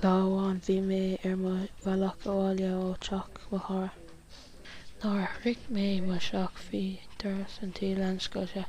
Lá amháin bhí mé ar mo bhealach abhaile ó teach mo chara. Nuair a shroich mé mo theach bhí doras an tí lánoscailte.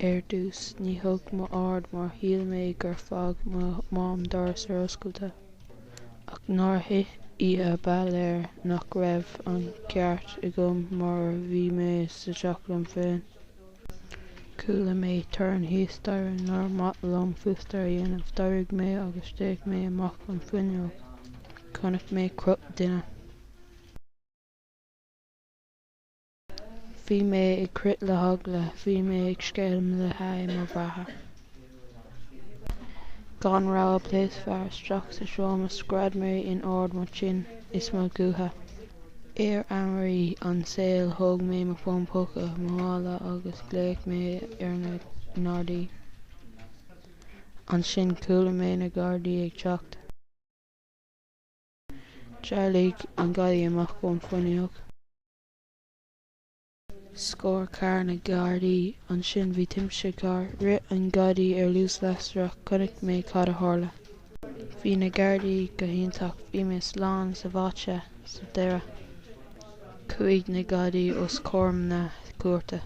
Ar dtús ní thug mé aird mar shíl mé gur fág mo mham doras ar oscailte. Ach nuair a thit oíche ba léir nach raibh an ceart agam mar bhí mé sa teach liom féin. Chuala mé torann thíos staighre níor mhaith liom fústar a dhéanamh. D'éirigh mé agus d'fhéach mé amach an fuinneog. Chonaic mé cruth duine. Bhí mé ag crith le heagla. Bhí mé ag scéimh le haghaidh mo bheatha. Gan rabhadh phléasc fear isteach sa seomra scread mé in ard mo chinn is mo ghutha. Ar ámharaí an tsaoil thóg mé mo fón póca ó mo mhála agus ghlaoigh mé ar na nGardaí. Ansin chuala mé na Gardaí ag teacht. D'éalaigh an gadaí amach ón bhfuinneog. Scór carr na Gardaí. Ansin bhí timpiste carr. Rith an gadaí ar luas lasrach. Chonaic mé cad a tharla. Bhí na Gardaí go hiontach. Bhí mé slán sábháilte. Sa deireadh, chuaigh na gadaí os comhair na cúirte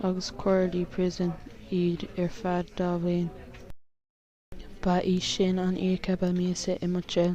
agus cuireadh i bpríosún iad ar feadh dhá bhliain. Ba í sin an oíche ba mheasa i mo shaol.